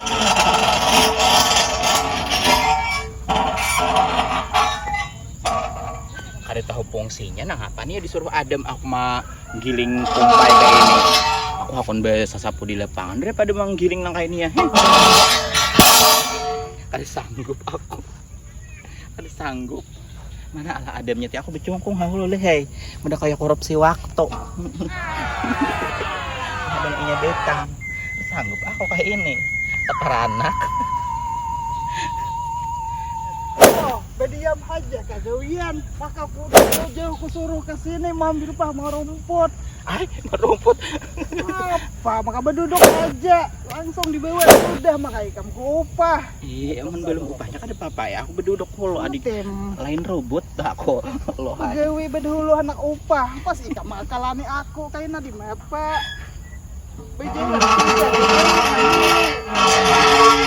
Kada tahu fungsinya nangapa nih disuruh adem aku mah giling kumpai kayak ini. Aku hakun sasapu di lapangan daripada manggiling nang kayak ini ya. Kada sanggup aku. Kada sanggup. Mana ala adamnya ti aku becungkung hahulu leh hei. Mudah kaya korupsi waktu. Ada inya betang. Sanggup aku kayak ini. Teperanak. Oh, berdiam aja kagawian. Maka aku jauh-jauh kusuruh ke sini mambil pah marumput. Ay, marumput. Apa? Maka berduduk aja. Langsung dibawa sudah maka ikam ku upah. Iya, amun belum upahnya kada apa-apa ya. Aku beduduk hulu adik. Lain robot dah aku. Loh. Gawe bedulu anak upah. Pas ikam makalani aku kaina di mapa. Bejalan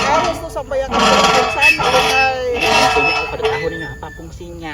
harus tuh sampai yang sana. Iya, aku kada tahu nih apa fungsinya.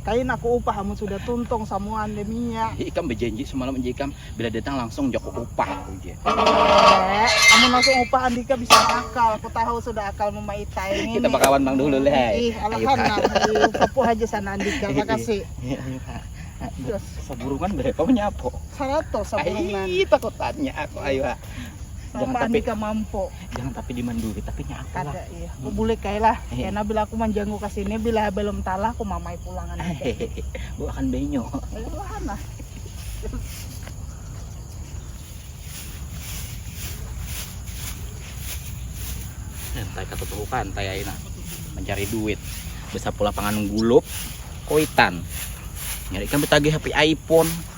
Kain aku upah amun sudah tuntung samuan deh minyak. Ih, ikam bejanji semalam aja ikam bila datang langsung joko upah aku je. Eh, amun langsung upah andika bisa akal. Aku tahu sudah akal memaitai ini. Kita bakawan bang dulu leh. Hai. Ih, alahan nah. Upapu aja sana andika. Makasih. Terus. Saburungan berapa menyapo? Seratus saburungan. Ih, takutannya aku ayo. Jangan tapi mampu. jangan tapi di manduri tapi nya aku lah ada iya aku bulik kayak lah eh. karena bila aku manjanggu ke sini bila belum talah aku mamai pulangan bu akan benyo pulangan lah pantai kata tuh pantai aina mencari duit besar pula pangan gulup koitan nyari kan betagih HP iPhone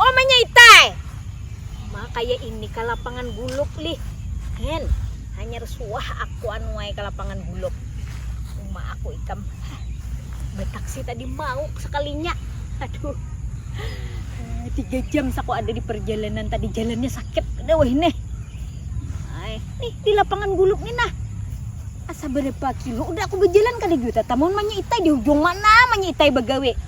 Oh manyaitai. Ma kaya ini ka lapangan guluk lih. Hen, hanyar suah aku anu ai ka lapangan guluk. Uma aku ikam. Hah, bataksi tadi mau sakalinya. Aduh. Tiga jam saku ada di parjalanan tadi jalannya sakit kada wahini nih. Ai, nih di lapangan guluk ni nah. Asa barapa kilo udah aku bajalan kada jua tatam mun manyaitai di hujung mana manyaitai bagawi.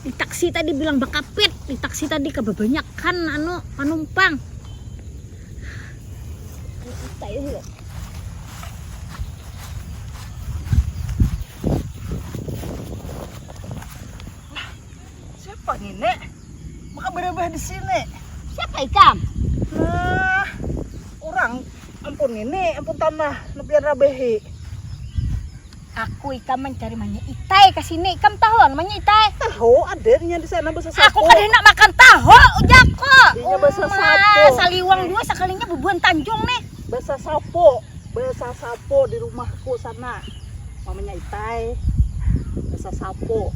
di taksi tadi bilang bakapit di taksi tadi kebanyakan anu penumpang siapa nih nek maka berubah di sini siapa ikam nah orang ampun ini ampun tanah lebih rabehi Aku ikam mancari manya itai ka sini. Ikam tahu anu manya itai? Tahu, ada inya di sana basa sapu. Aku kada hendak makan tahu, ujakku. Inya basa sapu. Saliwang jua sakalinya bubuhan Tanjung nih. Basa sapu, basa sapu di rumahku sana. Mamanya itai. Basa sapu.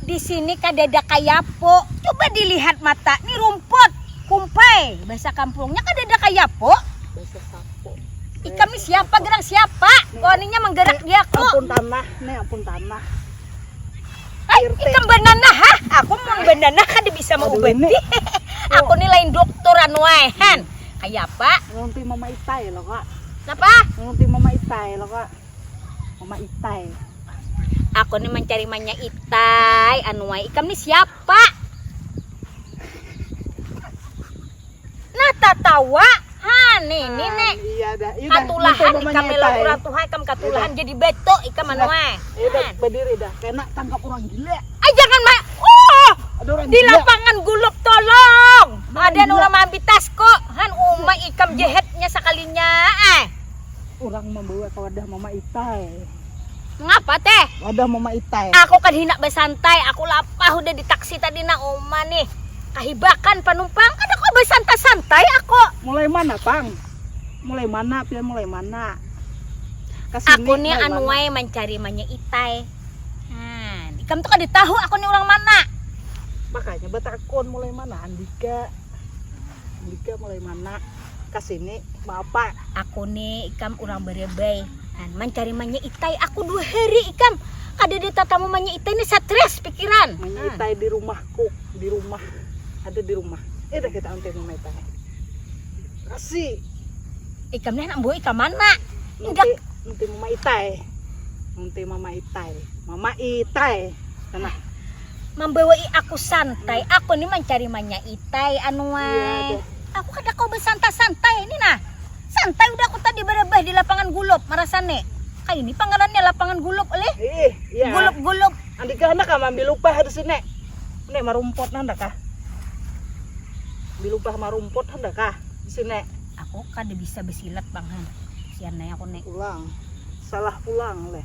Di sini kadada kayapo. Coba dilihat mata, ni rumput, kumpai, bahasa kampungnya kadada kayapo. Bahasa sapo. Ikam ni siapa gerang siapa? Waninya menggerak diaku. Ampun tanah, ni ampun tanah. Hai, ikam bananah ha? Aku mun bananah kada bisa maubati. Aku ni lain doktor anu ai han. Kayapa? Ngunting mama itai lo kak. Napa? Ngunting mama itai lo kak. mama itai aku nih mencari manya itai anuai ikam nih siapa nah tatawa hani ini ah, nek iya dah iya katulahan ikam melo kurang tuha ikam katulahan jadi beto ikam anuai iya nah. berdiri dah kena tangkap orang gila ah jangan ma oh di lapangan guluk tolong ada orang mambi tas kok han uma ikam jehetnya sekalinya eh urang mambawa ka wadah mama itai mangapa teh wadah mama itai aku kan hinak basantai aku lapah udah di taksi tadi na uma nih kahibakan panumpang kada kau basantai santai aku mulai mana pang mulai mana pian mulai mana Kasini, aku nih anuai mancari manya itai nah ikam tuh kada tahu aku nih urang mana makanya batakun mulai mana andika Andika mulai mana kasini mau apa? Aku ni ikam urang barebai dan mancari manya itai. Aku dua hari ikam kada ada tatamu manya itai ni stres pikiran. Manya hmm. itai di rumahku, di rumah ada di rumah. Eh dah kita antai mama itai. Kasih. Ikam ni anak buah ikam mana? Nanti, nanti mama itai. Nanti mama itai. Mama itai. Nah. mambawai aku santai aku ni mancari manyaitai anuai iya, aku kada kau bersantai-santai ini nah santai udah aku tadi berebah di lapangan gulop marasane kayak ini pangalannya lapangan gulop oleh eh, iya. gulop-gulop andika anak kah ambil upah di sini ini marumput nanda kah ambil upah marumput nanda kah di sini aku kada bisa besilat bang sian aku nek pulang salah pulang leh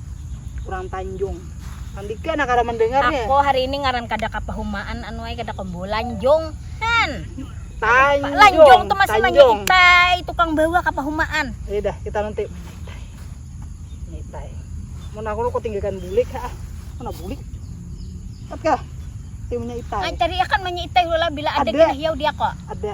kurang tanjung Andika nak kada mendengar ya. Aku hari ini ngaran kada kapahumaan anu ai kada kombo lanjung. Kan. Tanjung. Lanjung tuh masih tanjung. manyitai tukang bawa kapahumaan. Ya dah kita nanti menyitai. Menyitai. Mun aku kau tinggalkan bulik ha. Mana bulik? Tapi kah? Timunya itai. Ay, cari akan menyitai hula bila ada, ada. kena hiau dia kok. Ada.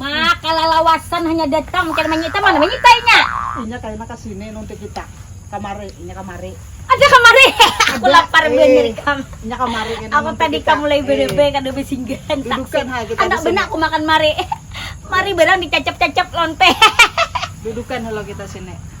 Maka lalawasan hanya datang mungkin manyita mana manyita inya. Inya kaina ka sini nunti kita. Kamari, inya kamari. Ada kamari. Aku lapar banar ikam. Inya kamari kaina Aku tadi ka mulai barabai kada basinggah handak. Dudukan ha kita. Handak banar aku makan mari. Mari barang dicacap-cacap lonte. Dudukan halo kita sini.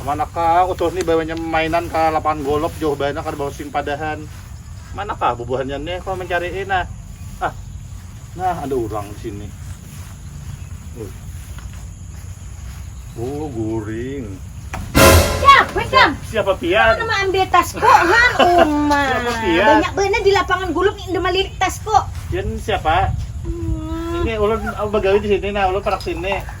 Manakah utuh ni bawanya mainan ka lapangan golop jauh banar kada bawa simpadahan. Manakah bubuhannya nih kau mencari'i nah. Ah, nah ada urang di sini. Uh. Oh, guring. Ya, weh Kang. Siapa pian? Mana ambil tasku han Uma. Siapa pian? Banyak benar di lapangan golop ni enda malirik tasku. Pian siapa? Hmm. Ini ulun bagawi di sini nah, ulun parak sini.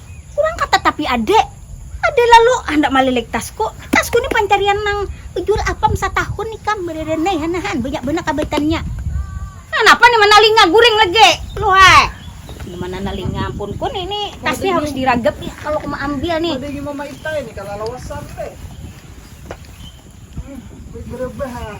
Kurang kata tapi ade. Ade lalu handak malilik tasku. Tasku ni pancarian nang ujur apam satahun ikam mereren ai hana han banyak banar kabaitannya. Nah napa ni manalinga guring lagi lu hai. Nyaman nanalinga ampun ku ni ni tas ni harus diragap ni kalo ku maambil ni. Badingi mama ita ini kalalawasan be. Baik berebah ah.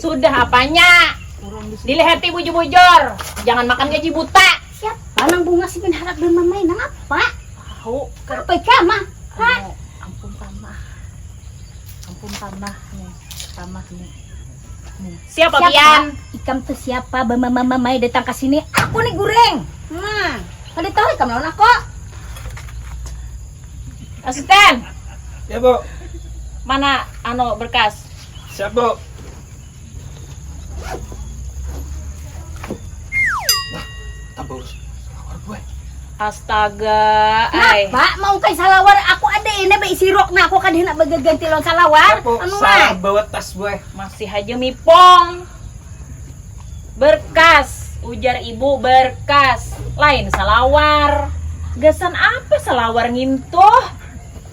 sudah apanya dilihati bujur-bujur jangan makan gaji buta siap lanang bunga si harap dan mamai nang apa tahu apa kama ha ampun kama ampun kama nih kama nih nih siapa, siapa? pian ikam tuh siapa bamama mamai datang ke sini aku nih goreng nah ada tahu ikam lawan aku asisten ya bu mana ano berkas Siap, Bu. Nah, tambah urus. Salawar, Bu. Eh. Astaga, ay. Pak, mau kai salawar? Aku ada ini baik sirok nah aku kada hendak bagaganti lawan salawar. Aku anu, salah bawa tas, Bu. Eh. Masih aja mipong. Berkas, ujar ibu berkas. Lain salawar. Gasan apa salawar ngintuh?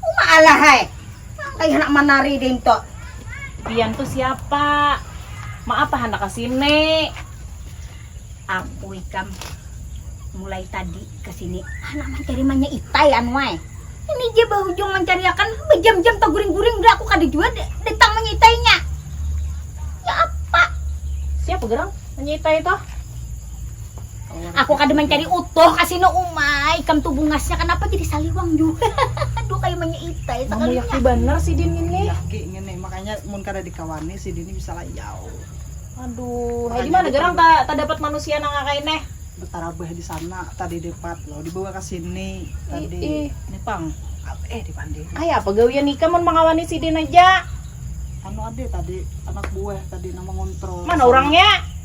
Uma alahai, nangkaya handak manari dinto. Pian tu siapa? Maapa handak ka sini? Aku ikam mulai tadi ka sini handak mancari manya itai anu ai. Ini ja bahujung mancariakan bajam-jam taguring-guring dah aku kada jua datang manya itainya. Ya apa? Siapa gerang manya itai tuh? Aku kada mencari utuh kasino umai. Ikam tuh bungasnya kenapa jadi saliwang jua. Aduh kayak manya itai sekalinya. Mamuyaki banar sidin ngini. Mamuyaki ngini makanya mun kada dikawani sidin ni bisa layau. Aduh, hai dimana garang ta tadapat manusia nang kakai neh. Betarabah di sana tadi depat lo dibawa ke sini tadi. Ih, nih pang. Eh di pandiri. Ay apa gawian ikam mun mangawani sidin aja. Anu ada tadi anak buah tadi nang mengontrol. Mana orangnya?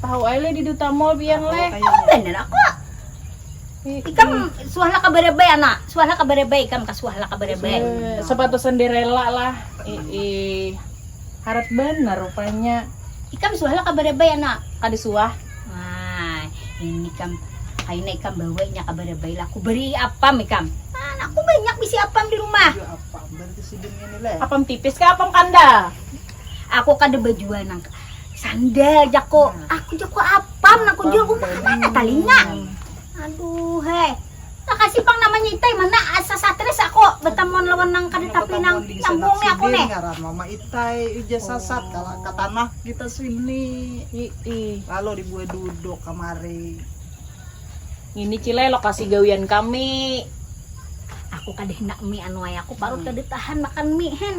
tahu aja di duta mall biar leh bener aku ikam suah lah kabar baik anak suah lah kabar baik ikam kasuah lah kabar baik sepatu sendirela lah ii harat bener rupanya ikam suah lah kabar baik anak kada suah nah ini kam kaina ikam bawa inya kabar baik lah aku beri apam ikam nah aku banyak bisi apam di rumah apam tipis kah apam kandal. aku kada bajual nang sandal jako aku jako apam nang kujual aku mah mana talinga aduh heh makasih pang namanya itai mana asa satres ako batamuan lawan nang kada tapi nang nyambung ni ako nih ngaran mama itai ujar sasat oh. kala ka tanah kita sini Ii. lalu dibuat duduk kamari ini cile lokasi gawian kami aku kada hendak mie anu ay aku parut hmm. kada tahan makan mie hen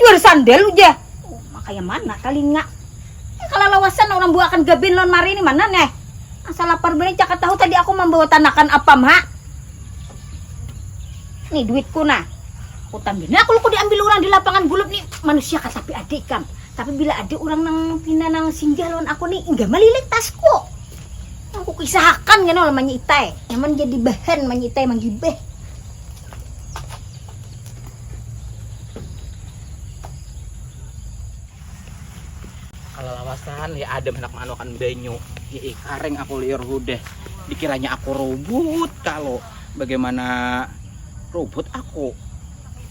Jual sandal uja. Uma kaya mana talinga. Kalalawasan urang buakan gabin lawan mari ni mana neh. Asa lapar banar caka tahu tadi aku mambawa tanakan apam ha. Ni duitku nah. Utan banar aku luku diambil urang di lapangan gulup ni. Manusia kah tapi ada ikam. Tapi bila ada urang nang pina nang singgah lawan aku ni hingga malilit tasku. Nang kukisahakan kena lawan manyi itai. Nyaman jadi bahan manyi itai manggibah. kalau lawasan ya ada menak manukan banyu ya eh, kareng aku liur udah dikiranya aku robot kalau bagaimana robot aku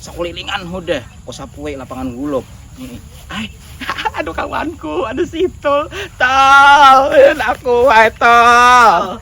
sekulilingan udah aku sapuai lapangan gulop ini ay aduh kawanku aduh situ tol aku ay tol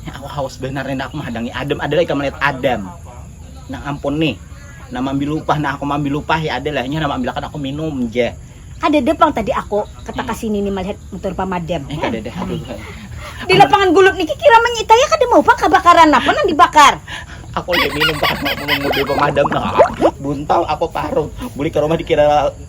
Nya aku haus banar nih, nah aku mahadangi Adam, ada lagi kamu lihat Adam. Nah ampun nih, nah mambil lupah, nah aku mambil lupah ya ada lah, nya nah mambilakan aku minum ja. Kadada pang tadi aku kata ka sini nih malihat mutur pamadam. Eh kadada, aduh. Di lapangan gulub niki kira manyita ya kada mau pang kabakaran, napa nang dibakar? Aku ulih minum pang, aku mudui pamadam nah, buntal aku parut, bulik ka rumah dikira.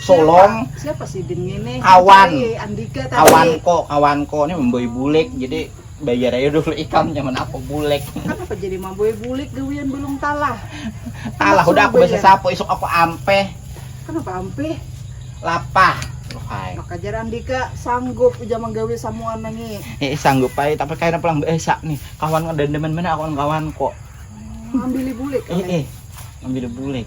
solong siapa sih ini nih kawan kawan kok kawan kok ini membeli bulik jadi bayar aja dulu ikam zaman aku bulik kenapa jadi membeli bulik gawian belum talah talah udah aku bisa sapu isok aku ampe kenapa ampe lapah Hai. Maka jarang dika sanggup ujar menggawe samuan nangi. Eh sanggup pai tapi kayaknya pulang biasa nih. Kawan dan demen mana kawan-kawan kok. Ambil bulik. Eh eh. Ambil bulik.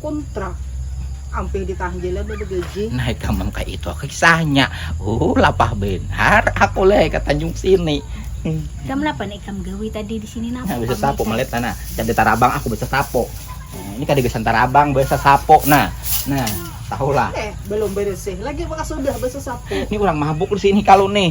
Kuntra, ampih ditanggilnya baru gaji. Naik ka mang ka itu aku kisahnya. Uh, lapah benhar aku leh ka Tanjung sini. Ikam napa neh ikam gawi tadi di sini napa? Nah, bisa sapo melet nah, nah. Kada tarabang aku bisa sapo. Nah, ini kada gasan tarabang, bisa sapo nah. Nah, tahulah. Eh, belum bersih lagi maka sudah bisa sapo. Ini orang mabuk di sini kalu nih.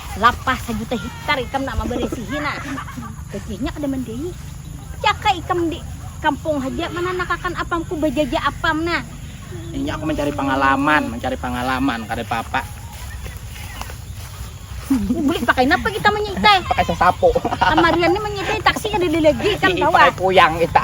lapas sajuta hiktar ikam nak mabarisihi nah gajahnya kada mandai jaka ikam di kampung haja mananakakan apam ku bajaja apam nah. Ini aku mencari pangalaman, mencari pangalaman kada papa. Bulik pakai napa kita menyitai? Pakai sasapu. Kamarian ni menyitai taksi ada lagi kan tawa. Pakai puyang kita.